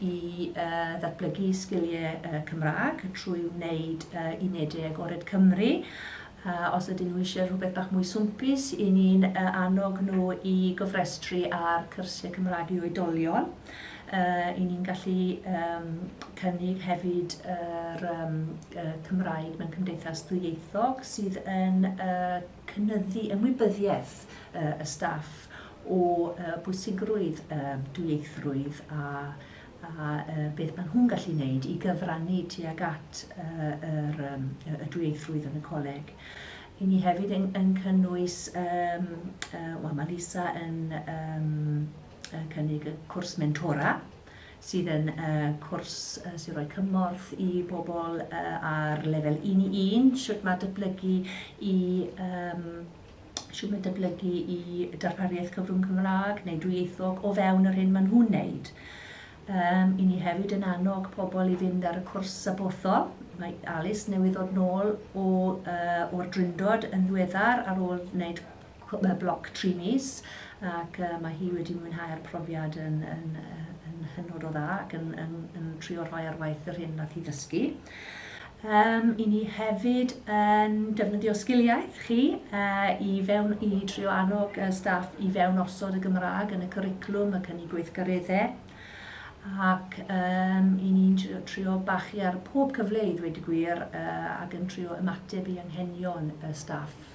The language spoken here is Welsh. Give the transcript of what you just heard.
i ddatblygu sgiliau Cymraeg trwy wneud unedau agored Cymru. Os ydyn nhw eisiau rhywbeth bach mwy swmpus, i ni'n annog nhw i gofrestru ar cyrsiau Cymraeg i oedolion. I ni'n gallu cynnig hefyd yr Cymraeg mewn cymdeithas ddwyieithog sydd yn cynyddu ymwybyddiaeth y staff o bwysigrwydd dwyieithrwydd a beth maen nhw'n gallu wneud i gyfrannu tuag at y dwyieithrwydd yn y coleg. Ry'n ni hefyd yn cynnwys, wel mae Lisa yn cynnig y cwrs mentora sydd yn cwrs sy'n rhoi cymorth i bobl ar lefel un i un, shwt mae dyblygu i yym shwt mae dyblygu i darpariaeth cyfrwng Cymraeg neu dwyieithog o fewn yr hyn maen nhw'n wneud. Yym, i ni hefyd yn annog pobl i fynd ar y cwrs sabothol. Mae Alice newydd ddod nôl o, uh, o'r Drindod yn ddiweddar ar ôl wneud bloc tri mis ac mae hi wedi mwynhau'r profiad yn yn yn hynod o dda ac yn yn yn trio rhoi ar waith yr hyn nath hi ddysgu. Um, I ni hefyd yn defnyddio sgiliaeth chi uh, i fewn i trio annog uh, staff i fewn osod y Gymraeg yn y cwriclwm ac yn ei gweithgareddau ac um, i ni'n trio, trio bachu ar pob cyfle i ddweud y gwir uh, ac yn trio ymateb i anghenion y staff.